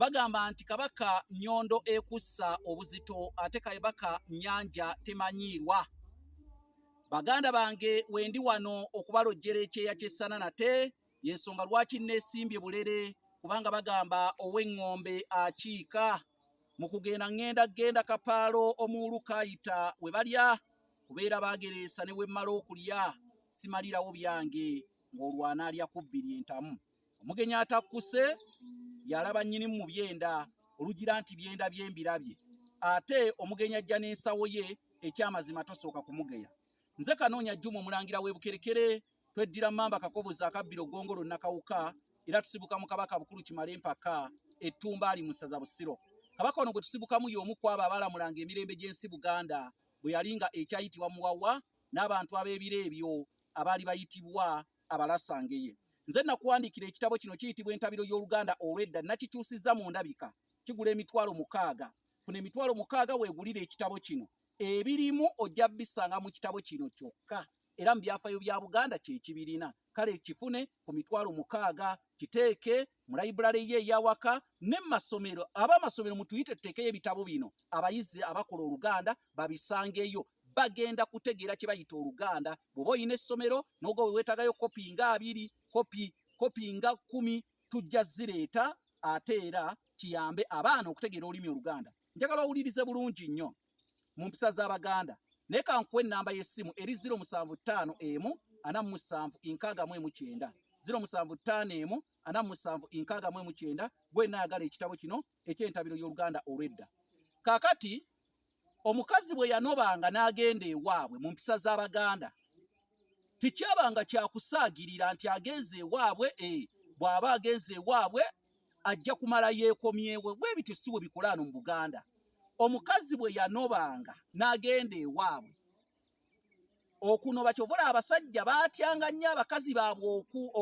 Bagamba nti Kabaka Nyondo ekussa obuzito ate Kabaka Nyanja temanyiirwa. Baganda bange wendi wano okubalojjera ekyeya ky'essana nate y'ensonga lwaki nneesimbye bulere kubanga bagamba ow'eŋŋombe akiika. Mu kugenda ŋŋenda genda kapaalo omuwulu kaayita we balya kubeera baagereesa ne wemmala okulya simalirawo byange ng'olwo anaalya ku bbiri entamu. omugenyi atakkuse yalaba nnyini mu byenda olugira nti byenda bye mbirabye ate omugenyi ajja n'ensawo ye ekyamazima tosooka kumugeya nze kanoonya jjuma omulangira w'ebukerekere tweddira mmamba kakobozi akabbira ogongolo nakawuka era tusibuka mu kabaka bukulu kimale empaka ettumba ali mu ssaza busiro kabaka ono gwe tusibukamu y'omu kwabo abalamulanga emirembe gy'ensi buganda bwe yali nga ekyayitibwa muwawa n'abantu ab'ebiro ebyo abaali bayitibwa abalasangeye nze nakuwandiikira ekitabo kino kiyitibwa entabiro y'oluganda olw'edda nakikyusizza mu ndabika kigula emitwalo mukaaga funa emitwalo mukaaga weegulire ekitabo kino ebirimu ojja bisanga mu kitabo kino kyokka era mu byafayo bya Buganda kye kibirina kale kifune ku mitwalo mukaaga kiteeke mu layibulale ye eyawaka ne masomero aba amasomero mutuyite tuteekeyo ebitabo bino abayizi abakola oluganda babisangeyo bagenda kutegeera kye bayita oluganda bw'oba olina essomero n'oga we weetagayo kopi nga abiri kopi kopi nga kkumi tujja zireeta ate era kiyambe abaana okutegeera olulimi oluganda njagala owulirize bulungi nnyo mu mpisa z'abaganda naye kankuwa ennamba y'essimu eri 075 emu ana mu musanvu nkaaga mu emu kyenda 075 emu ana mu musanvu nkaaga mu emu kyenda gwenna ayagala ekitabo kino eky'entabiro y'oluganda olw'edda kakati omukazi bwe yanobanga n'agenda ewaabwe mu mpisa z'abaganda tekyabanga kyakusaagirira nti agenze ewaabwe e bw'aba agenze ewaabwe ajja kumala yeekomyewe bwe bityo si bwe bikolaano mu buganda omukazi bwe yanobanga n'agenda ewaabwe okunoba kyovula abasajja baatyanga nnyo abakazi baabwe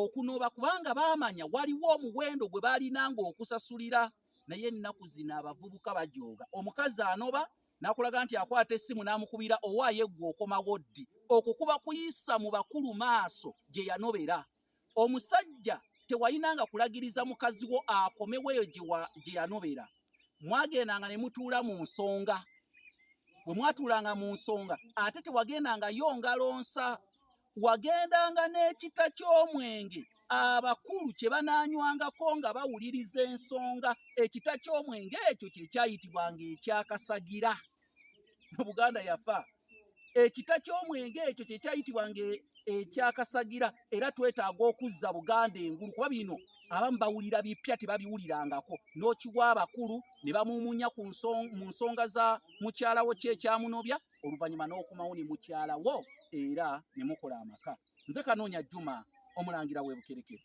okunoba kubanga baamanya waliwo omuwendo gwe baalinanga okusasulira naye ennaku zino abavubuka bajooga omukazi anoba nakulaga nti akwata essimu n'amukubira owaaye ggwe okomawo ddi okwo kuba kuyisa mu bakulu maaso gye yanobera omusajja tewayinanga kulagiriza mukazi wo akomewo eyo gye yanobera mwagendanga ne mutuula mu nsonga bwe mwatuulanga mu nsonga ate tewagendangayo ngalonsa wagendanga n'ekita ky'omwenge abakulu kye banaanywangako nga bawuliriza ensonga ekita ky'omwenge ekyo kye kyayitibwanga ekyakasagira mu buganda yafa ekika ky'omwenge ekyo kye kyayitibwanga e, ekyakasagira era twetaaga okuzza buganda engulu kuba bino abamu bawulira bipya tebabiwulirangako n'okiwa abakulu ne bamuumunya mu nsonga za mukyalawo ki ekyamunobya oluvannyuma n'okumawo ne mukyalawo era ne mukola amaka nze kanoonya juma omulangira w'ebukerekere